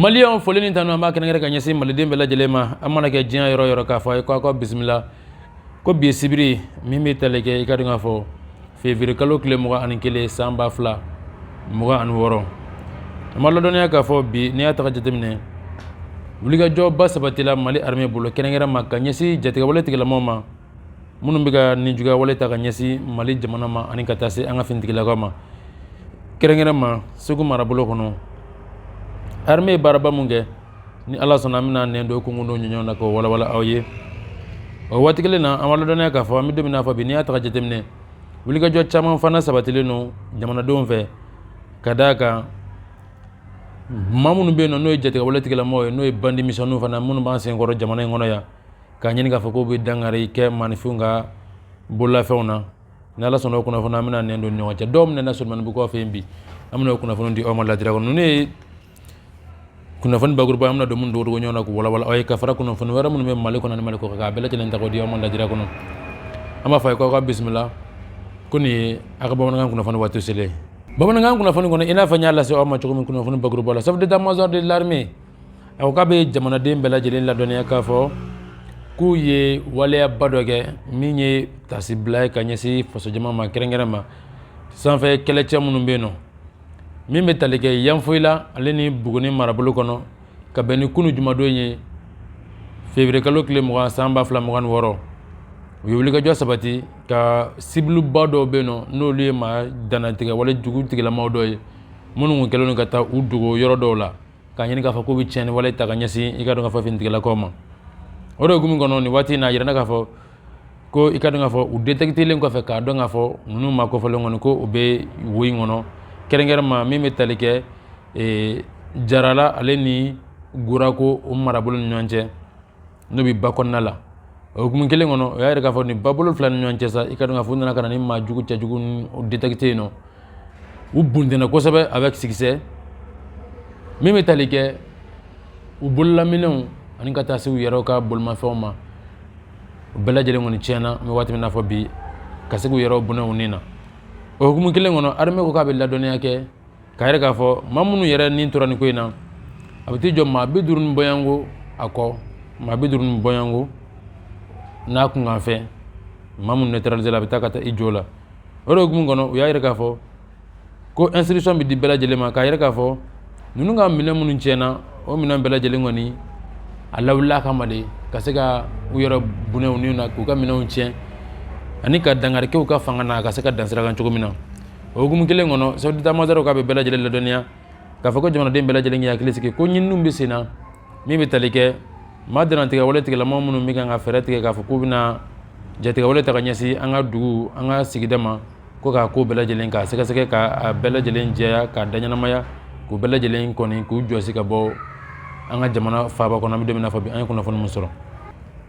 maliyɛnw foli ni tanu an b'a kɛnɛkɛrɛ ka ɲɛsin maliden bɛɛ lajɛlen ma an mana kɛ diɲɛ yɔrɔ o yɔrɔ k'a fɔ a ye ko aw ka bisimila ko bi ye sibiri min bɛ tali kɛ i ka dɔn k'a fɔ février kalo tile mugan ani kelen san ba fila mugan ani wɔɔrɔ an b'a ladɔnniya k'a fɔ bi n'i y'a ta ka jateminɛ wulikajɔba sabatila mali arime bolo kɛrɛnkɛrɛn ma ka ɲɛsin jatigɛwale tigilamɔgɔw ma minnu bɛ ka nijuguyawale ta ka ɲɛsin mali jamana ma ani ka taa se an ka finitigilakaw ma kɛrɛnkɛrɛn ma segu marabolo kɔnɔ arime ye baaraba min kɛ ni ala sɔnna an bɛna nɛn don kungo don ɲɔgɔn na k'o walawala aw ye o waati kelen na an b'a ladɔnniya k'a fɔ an bɛ don min na fɔ bi n'i y'a ta ka jateminɛ wulikajɔ caman fana sabatilen don jamanadenw fɛ ka d'a kan maa minnu bɛ yen nɔ n'o ye jatigɛwale tigilamɔgɔw ye n'o ye bandi misɛnninw fana minnu b'an senkɔrɔ jamana in kɔnɔ yan k'a ɲini k'a fɔ k'u bɛ dankari kɛ maanifinw ka bololafɛnw na ni ala sɔnna o kunnafoni an bɛna nɛn don ɲɔgɔn cɛ dɔw minɛna solomanibugukaw fɛ yen bi an bɛna o kunnafoni di aw ma ladira kɔnɔ ninnu ye kunnafoni bakuruba an bɛna dɔ minnu don ɲɔgɔn na k'u walawala aw ye ka fara kunnafoni wɛrɛ minnu bɛ mali kɔnɔ ni mali kɔkan a bɛɛ lajɛlen ta k'o di aw ma lajira kɔnɔ an b'a fɔ a ye k'aw ka bisimila ko nin ye a ka bamanankan kunnafoni waati selen bamanankan kunnafoni kɔnɔ i n'a fɔ n y'a lase aw ma cogo min kunnafoni bakuruba la chef d'état-major de l'armée a ko k'a bɛ jamanaden bɛɛ lajɛlen ladɔnniya k'a fɔ k'u ye waleyaba dɔ kɛ min ye taasibila ye ka ɲɛsin fasojama ma kɛrɛnkɛrɛn ma sanfɛ kɛlɛcɛ minnu bɛ yen nɔ min bɛ tali kɛ Yanfoyila ale ni Buguni marabolo kɔnɔ ka bɛn ni kunu jumadon ye février kalo tile mugan san ba fila mugan ni wɔɔrɔ u ye wulikajɔ sabati ka cible ba dɔw bɛ yen nɔ n'olu ye maa dannatigɛwale jugu tigilamaaw dɔ ye minnu tun kɛlen don ka taa u dogo yɔrɔ dɔw la ka ɲini k'a fɔ k'u bɛ tiɲɛni wale ta ka ɲɛsin i ka dɔn k'a fɔ finitigilakaw ma o de hukumu kɔnɔ nin waati in na a yirana k'a fɔ ko i ka dɔn k'a fɔ u detekitelen kɔfɛ k'a dɔn k'a fɔ ninnu maa kofɔlen kɔni ko u bɛ wo in kɔnɔ kɛrɛnkɛrɛnma min bɛ tali kɛ jarala ale ni gurako o marabolo ni ɲɔgɔn cɛ n'o bɛ ba kɔnɔna la o hukumu kelen kɔnɔ o y'a jira k'a fɔ nin babolo fila ni ɲɔgɔn cɛ sa i ka dɔn k'a fɔ u nana ka na nin maa jugu cɛ jugu ninnu détecté yen nɔ u buntɛnna kosɛbɛ avec succès min bɛ tali kɛ u bololaminɛnw ani ka taa se u yɛrɛw ka bolimafɛnw ma u bɛɛ lajɛlen kɔni tiɲɛna an bɛ waati min na fɔ bi ka se k'u yɛrɛw bɔnɛ u ni na o hukumu kelen kɔnɔ armée ko k'a bɛ ladɔnniya kɛ k'a yira k'a fɔ maa minnu yɛrɛ ni tora nin ko in na a bɛ t'i jɔ maa bi duuru ni bɔyanko a ko maa bi duuru ni bɔyanko n'a kunkanfɛn maa minnu neutraliser la a bɛ taa ka taa i jɔ o la o de hukumu kɔnɔ u y'a yira k'a fɔ ko instruction bɛ di bɛɛ lajɛlen ma k'a yira k'a fɔ ninnu ka minɛn minnu tiɲɛna o minɛn bɛɛ lajɛlen kɔni a lawulila kama de ka se ka u yɛrɛ bɔnɛ u ni na k'u ka minɛnw tiɲɛ ani ka dankari kɛ u ka fanga na ka se ka dan sigi a kan cogo min na o hukumu kelen kɔnɔ chef d'état-major k'a bɛ bɛɛ lajɛlen ladɔnniya k'a fɔ ko jamanaden bɛɛ lajɛlen k'i hakili sigi ko ɲininiw bɛ sen na min bɛ tali kɛ maa dantigɛ wale tigilamaa minnu bɛ kan ka fɛɛrɛ tigɛ k'a fɔ k'u bɛna jatigɛ wale ta ka ɲɛsin an ka dugu an ka sigida ma ko k'a ko bɛɛ lajɛlen k'a sɛgɛsɛgɛ k'a bɛɛ lajɛlen jɛya k'a da ɲɛnamaya k'u bɛɛ lajɛlen kɔni k'u jɔsi ka bɔ an ka jamana faaba kɔnɔ an bɛ don min na fɔ bi an ye kunnafoni min sɔrɔ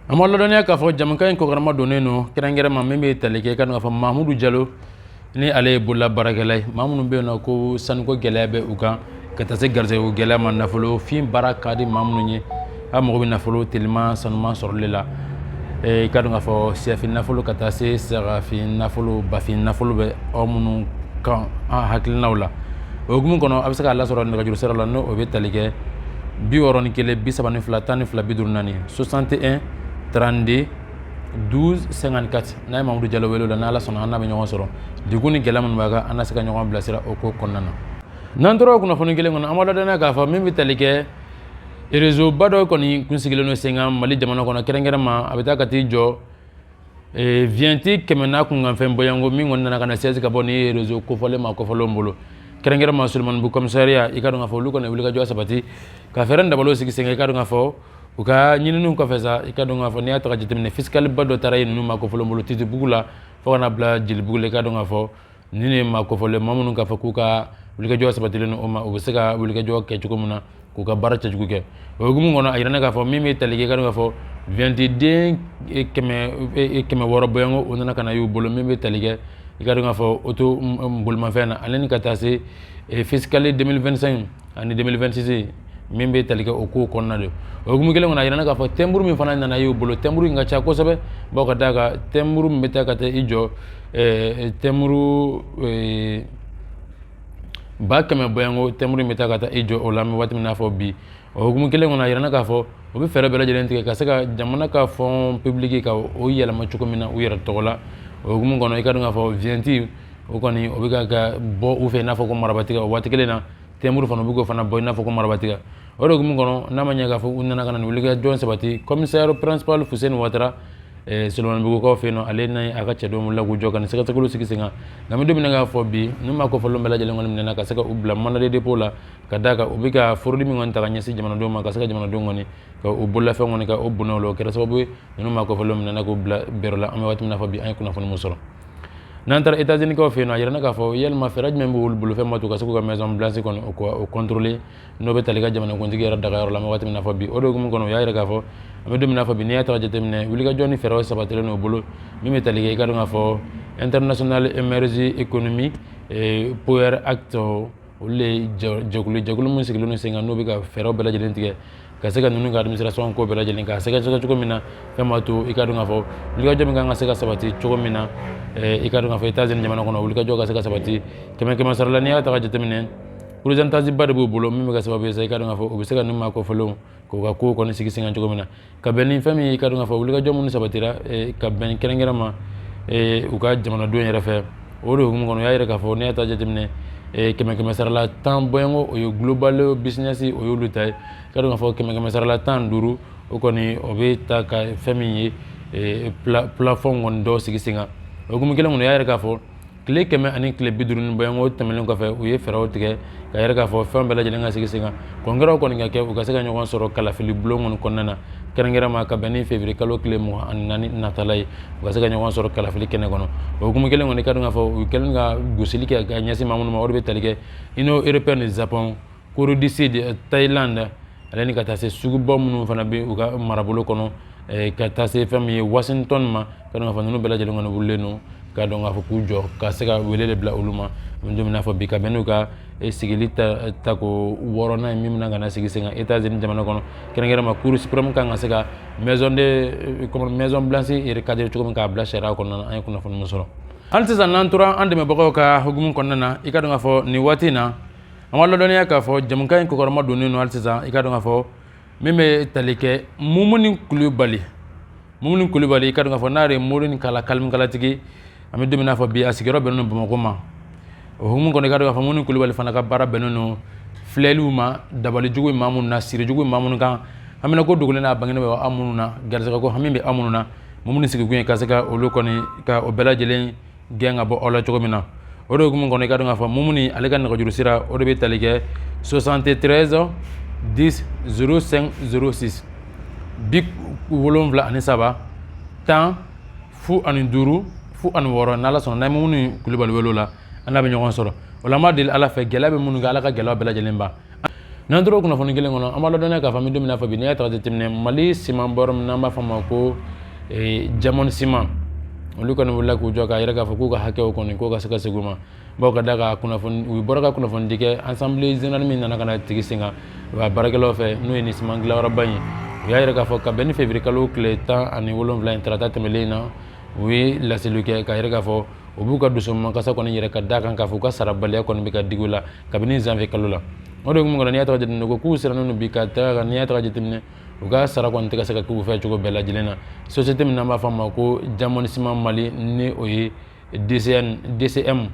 an b'a ladɔnniya k'a fɔ jɛmukan in kɔkɔrɔmadonnen don kɛrɛnkɛrɛn ma min bɛ tali kɛ ka n'a fɔ mahamudu jalo ni ale ye bolola baarakɛla ye maa minnu bɛ yen n'o ko sanuko gɛlɛya bɛ u kan ka taa se garisɛgɛko gɛlɛya ma nafolo fiin baara ka di maa minnu ye a mago bɛ nafolo teliman sanuman sɔrɔli la ee, i ka dɔn k'a fɔ syɛfin nafolo ka taa se sagafin nafolo bafin nafolo bɛ aw minnu ka hakilinaw la o hukumu kɔnɔ a bɛ se k'a lasɔrɔ nɛgɛjuru sira la ni o bɛ tali kɛ bi wɔɔrɔ ni kelen bi saba ni fila tan ni fila bi duuru naani 61 32 1254 n'a ye mamudu jalo wele o la n'ala sɔnna an n'a bɛ ɲɔgɔn sɔrɔ degun ni gɛlɛya minnu b'a kan an na se ka ɲɔgɔn bilasira o ko kɔnɔna na n'an tora o kunnafoni kelen kɔnɔ an b'a ladɔnniya k'a fɔ min bɛ tali kɛ erezoba dɔ kɔni kun sigilen don sen kan mali jamana kɔnɔ kɛrɛnkɛrɛn ma a bɛ taa ka t'i jɔ viyɛnti kɛmɛ n'a kunkanfɛn bɔyanko min kɔni nana ka na sɛsi ka bɔ ni erezo kofɔlen maa kofɔlenw bolo kɛrɛnkɛrɛn ma solomanibugu kɔmisariya i ka dɔn k'a fɔ olu kɔni wulikajɔ sabati ka fɛɛrɛ dabalo sigi sen kan i ka dɔn k'a fɔ u ka ɲininiw kɔfɛ sa i ka dɔn k'a fɔ n'i y'a ta ka jateminɛ fisikaliba dɔ taara ye ninnu maa kofɔlen bolo titibugu la fo ka na bila jelibugu la i ka dɔn k'a fɔ ninnu ye maa kofɔlen maa minnu k'a fɔ k'u ka wulikajɔ sabatilen o ma u bɛ se ka wulikajɔ kɛ cogo min na k'u ka baara cɛjugu kɛ o hukumu kɔnɔ a yirana k'a fɔ min bɛ tali kɛ i ka dɔn k'a fɔ viyɛntiden e, kɛmɛ e, e, kɛmɛ wɔɔrɔ bɔyanko o nana ka na y'u bolo min bɛ tali kɛ i ka dɔn k'a fɔ oto bolimafɛn na ale ni ka taa se fisikali 2025 ani 2026 min bɛ tali kɛ o kow kɔnɔna de o hukumu kelen kɔnɔ a yirana k'a fɔ tɛnburu min fana nana y'u bolo tɛnburu in ka ca kosɛbɛ bawo ka d'a kan tɛnburu min bɛ taa ka taa i jɔ eh, tɛnburu eh, ba kɛmɛ bɔyanko tɛnburu bɛ taa ka taa i jɔ o la an bɛ waati min na fɔ bi o hukumu kelen kɔnɔ a yirana k'a fɔ u bɛ fɛɛrɛ bɛɛ lajɛlen tigɛ ka se ka jamana ka fɔn pibuliki ka o yɛlɛma cogo min na u yɛrɛ tɔgɔ la o hukumu kɔnɔ i ka dɔn k'a fɔ viyɛnti o kɔni o bɛ ka bɔ u fɛ i n'a fɔ ko marabatiga o waati kelen na tɛmburu fana u bɛ k'o fana bɔ i n'a fɔ ko marabatiga o de hukumu kɔnɔ n'a ma ɲɛ k'a fɔ u nana ka wulikajɔ sabati commissaire principal Fuseni Watara Solomanibugukaw fɛ yen nɔ ale n'a a ka cɛdenw wulila k'u jɔ ka nin sɛgɛsɛgɛliw sigi sen kan nka an bɛ don min na k'a fɔ bi nin maa kofɔlenw bɛɛ lajɛlen kɔni minɛna ka se ka u bila mandat de dépôt la ka d'a kan u bɛ ka forodi min kɔni ta ka ɲɛsin jamanadenw ma ka se ka jamanadenw kɔni ka u bololafɛn kɔni ka o bɔnɛ u la o kɛra sababu ye ninnu maa kofɔlenw minɛna k'u bila bɛɛrɛ la an bɛ waati min na fɔ bi an ye kunnafoni min sɔrɔ n'an taara Etats-Unis kaw fɛ yen nɔ a yirana k'a fɔ yalima fɛɛrɛ jumɛn b'olu bolo fɛn b'a to ka se k'u ka maison blanche kɔni o contrôler n'o bɛ tali kɛ jamanakuntigi yɛrɛ dagayɔrɔ la an bɛ waati min na fɔ bi o de hukumu kɔnɔ u y'a yira k'a fɔ an bɛ don min na fɔ bi n'i y'a ta ka jateminɛ wulikajɔ ni fɛɛrɛw sabatilen n'o bolo min bɛ tali kɛ i ka dɔn k'a fɔ International Emergency Economy Power Act olu de ye jɛkulu ye jɛkulu min sigilen don sen kan n'o bɛ ka fɛɛrɛw bɛɛ lajɛlen tigɛ ka se ka ninnu ka administration ko bɛɛ lajɛlen k'a sɛgɛsɛgɛ cogo min na fɛn b'a to i ka dɔn k'a fɔ wulikajɔ min kan ka se ka sabati cogo min na i ka dɔn k'a fɔ Etats-Unis jamana kɔnɔ wulikajɔ ka se ka sabati kɛmɛ kɛmɛ sara la n'i y'a ta ka jateminɛ pourcentage ba de b'u bolo min bɛ kɛ sababu ye sa i ka dɔn k'a fɔ u bɛ se ka nin maa kofɔlenw k'u ka kow kɔni sigi sen kan cogo min na ka bɛn ni fɛn min ye i ka dɔn k'a fɔ wulikajɔ minnu sabatira eh, ka bɛn kɛrɛnkɛrɛn ma eh, u ka jamanadenw yɛrɛ fɛ o de hukumu kɔnɔ u y'a yira k'a fɔ n'i y'a ta jateminɛ eh, kɛmɛ kɛmɛ sarala tan bɔɲɔgɔnko o ye global business o y'olu ta ye i ka dɔn k'a fɔ kɛmɛ kɛmɛ sarala tan duuru o kɔni o bɛ ta ka fɛn min ye plafond kɔni dɔ sigi sen kan o hukumu kelen kɔnɔ u y'a yira k'a fɔ tile kɛmɛ ani tile bi duuru ni bɔɲɔgɔnko tɛmɛnen kɔfɛ u ye fɛɛrɛw tigɛ k'a yira k'a fɔ fɛn bɛɛ lajɛlen ka sigi sen kan congrès kɔni ka kɛ u ka se ka ɲɔgɔn sɔrɔ kalafili bulon kɔni kɔnɔna na kɛrɛnkɛrɛn ma ka bɛn ni février kalo tile mugan ani naani natala ye u ka se ka ɲɔgɔn sɔrɔ kalafili kɛnɛ kɔnɔ o hukumu kelen kɔnɔ i ka dɔn k'a fɔ u kɛlen ka gosili kɛ ka ɲɛsin maa minnu ma o de bɛ tali kɛ union européenne ni japon corée du sud thailand ale ni ka taa se suguba minnu fana bɛ u ka marabolo kɔnɔ eh, ka taa se fɛn min ye washington ma i ka dɔn k'a fɔ ninnu bɛɛ lajɛlen kɔni wulilen don ka dɔn k'a fɔ k'u jɔ ka se ka wele de bila olu ma an bɛ don min na fɔ bi ka bɛn n'u ka eh, sigili ta tako wɔɔrɔnan ye min bɛna ka na sigi sen kan etats unis jamana kɔnɔ kɛrɛnkɛrɛn ma cour supreme kan ka se ka maison de eh, comment maison blanche recadrer cogo min k'a bila sariya kɔnɔna na an ye kunnafoni min sɔrɔ hali sisan n'an tora an dɛmɛbagaw ka hukumu kɔnɔna na i ka dɔn k'a fɔ nin waati in na An b'aw ladɔnniya k'a fɔ jɛmukan in kɔkɔrɔmadonnen don hali sisan i ka dɔn k'a fɔ min bɛ tali kɛ Mumuni kulubali Mumuni kulubali i ka dɔn k'a fɔ n'a ye mori ni kala kalikalatigi an bɛ don min na fɔ bi a sigiyɔrɔ bɛnnen don bamakɔ ma o hukumu kɔnɔ i ka dɔn k'a fɔ Mumuni kulubali fana ka baara bɛnnen don filɛliw ma dabalijugu b'aw minnu na sirijugu b'aw minnu kan banako dogolen n'a bangenen b'aw minnu na garisɛgɛ ko hami b'aw minnu na Mumuni sigilen ka se ka olu kɔni ka ko bɛɛ lajɛlen gɛn ka bɔ aw la cogo min na o de hukumu kɔnɔ i ka dɔn k'a fɔ mumuni ale ka nɛgɛjuru sira o de bɛ tali kɛ 73 10 05 06 bi wolonwula ani saba tan fu ani duuru fu ani wɔɔrɔ n'ala sɔnna n'an ye mumuni kulubali wele o la an n'a bɛ ɲɔgɔn sɔrɔ o la an b'a deli ala fɛ gɛlɛya bɛ minnu kan ala ka gɛlɛya bɛɛ lajɛlen ban n'an tora kunnafoni kelen kɔnɔ an b'a ladɔnniya k'a fɔ an bɛ don min na fɔ bi n'i y'a ta ka jateminɛ mali siman bɔyɔrɔ min n'an b'a fɔ a ma ko diamond ciment olu kɔni wulila k'u jɔ k'a yira k'a fɔ k'u ka hakɛw kɔni k'o ka se ka segin u ma bawo ka d'a kan u bɔra ka kunnafoni di kɛ assemblée générale min nana ka na sigi sen kan u ka baarakɛlaw fɛ n'o ye nin siman dilanyɔrɔba in ye u y'a yira k'a fɔ ka bɛn ni février kalo tile tan ani wolonwula in tarata tɛmɛlen na u ye laseliw kɛ k'a yira k'a fɔ u b'u ka dusukasi kɔni yira ka d'a kan k'a fɔ u ka sarabaliya kɔni bɛ ka digi u la kabini janvier kalo la o de hukumu kɔnɔ n'i y'a ta ka jateminɛ ko k'u sirannen don bi ka taga kan n'i y'a ta ka jateminɛ u ka sara kɔni tɛ ka se ka k'u fɛ cogo bɛɛ lajɛlen na société min n'an b'a fɔ a ma ko diamond ciment mali ni o ye dcm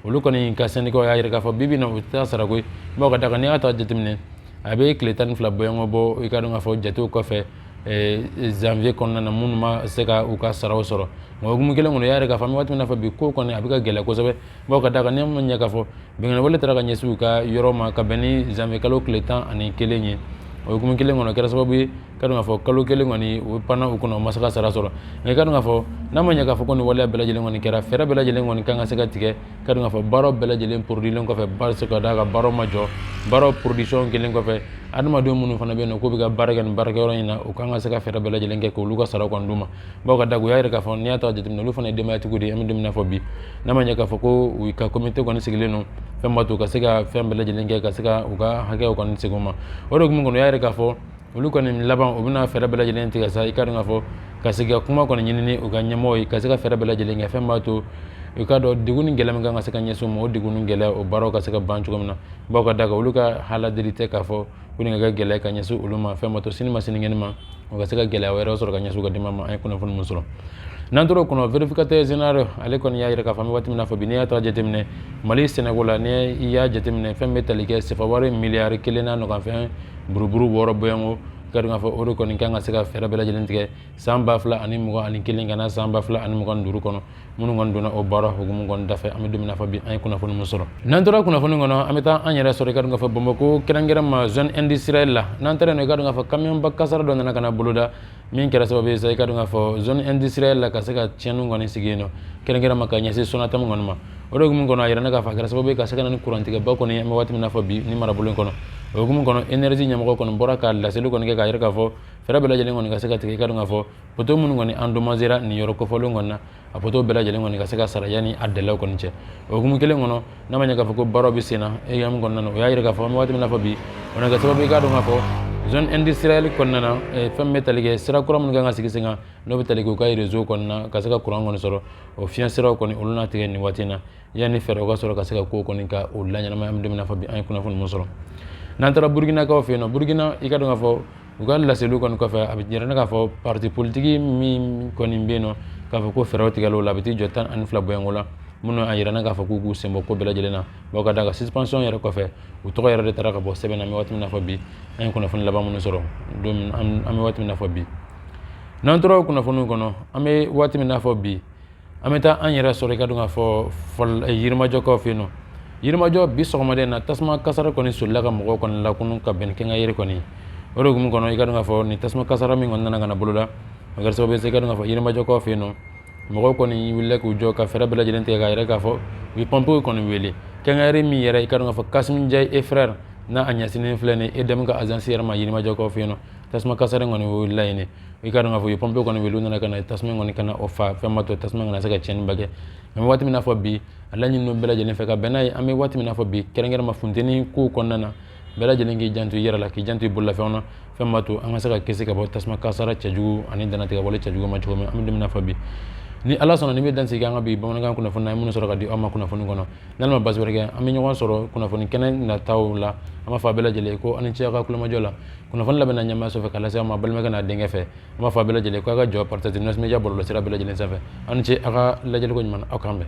olu kɔni ka syndicat y'a yira k'a fɔ bibi na u tɛ sara koyi bawo ka d'a kan n'i y'a ta jateminɛ a bɛ tile tan ni fila bɔɲɔgɔn bɔ i ka dɔn k'a fɔ jatew kɔfɛ janvier kɔnɔna na minnu ma se ka u ka saraw sɔrɔ nka hukumu kelen kɔnɔ y'a yira k'a fɔ an bɛ waati min na fɔ bi ko kɔni a bɛ ka gɛlɛya kosɛbɛ bawo ka d'a kan n'i ma ɲɛ k'a fɔ binkanniwale taara ka ɲɛsin u ka yɔrɔ ma ka bɛn ni janvier kalo tile tan ani kelen ye o hukumu kelen kɔnɔ kɛra sababu ye ka dɔn k'a fɔ kalo kelen kɔni o panna u kɔnɔ u ma se ka sara sɔrɔ nka i ka dɔn k'a fɔ n'a ma ɲɛ k'a fɔ ko nin waleya bɛɛ lajɛlen kɔni kɛra fɛɛrɛ bɛɛ lajɛlen kɔni kan ka se ka tigɛ ka dɔn k'a fɔ baaraw bɛɛ lajɛlen produilen kɔfɛ parce que ka d'a kan baaraw ma jɔ baaraw production kɛlen kɔfɛ adamadenw minnu fana bɛ yen nɔ k'u bɛ ka baara kɛ nin baarakɛyɔrɔ in na u kan ka se ka fɛɛrɛ bɛɛ lajɛlen kɛ k'olu ka sara kɔni d'u ma bawo ka d'a kan u y'a yira k'a fɔ n'i y'a ta jateminɛ olu fana ye denbayatigiw de ye an bɛ don min na fɔ bi n'a ma ɲɛ k'a fɔ ko u ka komite kɔni sigilen don fɛn b'a to u ka se ka fɛn bɛɛ lajɛlen kɛ ka se ka u ka hakɛw kɔni segin u ma o de hukumu kɔnɔ u y'a yira k'a fɔ olu kɔni laban u bɛna fɛɛrɛ bɛɛ lajɛlen tigɛ sa i ka dɔn k'a fɔ ka se ka kuma kɔni ɲini n'u ka ɲɛmɔgɔw ye ka se ka fɛɛrɛ bɛɛ lajɛlen kɛ fɛn b'a to i ka dɔn degun ni gɛlɛya min kan ka se ka ɲɛsin u ma o degun ni gɛlɛya o baaraw ka se ka ban cogo min na bawo ka d'a kan olu ka aladeli tɛ k'a fɔ ko nin ka kɛ gɛlɛya ka ɲɛsin olu ma fɛn b'a to sini ma sinikɛnɛ ma o ka se ka gɛlɛya wɛrɛ sɔrɔ ka ɲɛsin u ka denbaya ma an ye kunnafoni min sɔrɔ n'an tora o kɔnɔ vérificateur général ale kɔni y'a jira k'a fɔ an bɛ waati min na fɔ bi n'i y'a ta jateminɛ mali sɛnɛko la n'i y'a jateminɛ fɛn bɛ tali kɛ sefawari miliyari kelen n'a kunkanfɛn buruburu wɔɔrɔ bɔɲɔgɔnko i ka dɔn k'a fɔ o de kɔni kan ka se ka fɛɛrɛ bɛɛ lajɛlen tigɛ san ba fila ani mugan ani kelen ka na san ba fila ani mugan duuru kɔnɔ minnu kɔni donna o baara hukumu kɔni dafɛ an bɛ don min na fɔ bi an ye kunnafoni min sɔrɔ n'an tora kunnafoni kɔnɔ an bɛ taa an yɛrɛ sɔrɔ i ka dɔn k'a fɔ bamakɔ kɛrɛnkɛrɛn ma zone industrielle la n'an taara yen nɔ i ka dɔn k'a fɔ kamiyɔnba kasaara dɔ nana ka na boloda min kɛra sababu ye sa i ka dɔn k'a fɔ zone industrielle la ka se ka tiɲɛniw kɔni sigi yen nɔ kɛrɛnkɛrɛn ma ka ɲɛsin sonatam kɔni ma o de hukumu kɔnɔ a yiralen k'a fɔ a kɛra sababu ye ka se ka na ni kurantigɛba kɔni ye an bɛ waati min na fɔ bi nin marabolo in kɔnɔ o hukumu kɔnɔ énergie ɲɛmɔgɔ kɔni bɔra ka laseli kɔni kɛ k'a yira k'a fɔ fɛɛrɛ bɛɛ lajɛlen kɔni ka se ka tigɛ i ka dɔn k'a fɔ poto minnu kɔni endommagera nin yɔrɔ kofɔlen kɔni na a poto bɛɛ lajɛlen kɔni ka se ka sara yanni a délai kɔni cɛ o hukumu kelen kɔnɔ n'a ma ɲɛ k'a fɔ ko baaraw bɛ senna EAM kɔnɔna na o y'a yira k'a fɔ an bɛ waati min na fɔ bi o na kɛ sababu ye i k'a dɔn k'a fɔ zone industrielle kɔnɔna na fɛn min bɛ tali kɛ sira kura minnu kan ka sigi sen kan n'o bɛ tali kɛ u ka réseau kɔnɔna ka se ka courant kɔni sɔrɔ o fiɲɛ siraw kɔni olu na tigɛ nin waati in na yanni fɛɛrɛw ka sɔrɔ ka se ka kow kɔni ka o laɲɛnamaya an bɛ don min na fɔ bi an ye kunnafoni mun sɔrɔ n'an taara burukinakaw fɛ yen nɔ burukina i ka dɔn k'a fɔ u ka laseliw kɔni kɔfɛ a bɛ yira ne k'a fɔ parti politiki min kɔni bɛ yen nɔ k'a fɔ ko fɛɛrɛw tigɛla o la a bɛ t'i jɔ tan ani fila bɔɲɔgɔnko la minnu a yira ne k'a fɔ k'u k'u senbɔ ko bɛɛ lajɛlen na bawo ka d'a kan suspension yɛrɛ kɔfɛ u tɔgɔ yɛrɛ de taara ka bɔ sɛbɛn na an bɛ waati min na fɔ bi an ye kunnafoni laban minnu sɔrɔ don min an bɛ waati min na fɔ bi n'an tora o kunnafoniw kɔnɔ an bɛ waati min na fɔ bi an bɛ taa an yɛrɛ sɔrɔ i ka dɔn k'a fɔ eh, yirimajɔkaw fɛ yen nɔ yirimajɔ bi sɔgɔmada in na tasuma kasara kɔni solila ka mɔgɔw kɔni lakunu ka bɛn ni quincaillerie kɔni o de hukumu kɔnɔ i ka dɔn k'a fɔ nin tasuma kasara min kɔni nana ka na boloda o kɛra sababu ye i ka dɔn k'a fɔ yirimajɔkaw fɛ yen nɔ mɔgɔw kɔni wulila k'u jɔ ka fɛɛrɛ bɛɛ lajɛlen tigɛ k'a yɛrɛ k'a fɔ u ye pɔnpew kɔni wele quincaillerie min yɛrɛ i ka dɔn k'a fɔ Kassim Ndiaye et frères n'a a ɲɛsinnen filɛ nin ye EDM ka agence yɛrɛ ma yirimajɔkaw fɛ yen nɔ tasuma kasara kɔni wulila yen i ka dɔn k'a fɔ u ye pɔnpew kɔni wele u nana ka na tasuma kɔni ka na o fa fɛn ma to tasuma kana se ka tiɲɛniba kɛ an bɛ waati min n'a fɔ bi a laɲini don bɛɛ lajɛlen fɛ ka bɛn n'a ye an bɛ waati min n'a fɔ bi kɛrɛnkɛrɛn ma funteni kow kɔnɔna na bɛɛ lajɛlen k'i janto i yɛrɛ la k'i janto i bololafɛnw na fɛn ma to an ka se ka kisi ka bɔ tasuma kasara cɛjugu ani danatigɛwale cɛjugu ma cogo min an bɛ don min n'a fɔ bi ni ala sɔnna nin bɛ dan sigi an ka bi bamanankan kunnafoni na an ye minnu sɔrɔ ka di aw ma kunnafoni kɔnɔ n'ala ma baasi wɛrɛ kɛ an bɛ ɲɔgɔn sɔrɔ kunnafoni kɛnɛ nataw la an b'a fɔ a bɛɛ lajɛlen ko aw ni ce aw ka kulomajɔ la kunnafoni labɛnna ɲɛmaa sɔfɛ k'a lase aw ma balimakɛ n'a denkɛ fɛ an b'a fɔ a bɛɛ lajɛlen k'a ka jɔ partage News Media bɔlɔlɔsira bɛɛ lajɛlen sanfɛ aw ni ce a ka lajɛliko ɲuman na aw k'an bɛn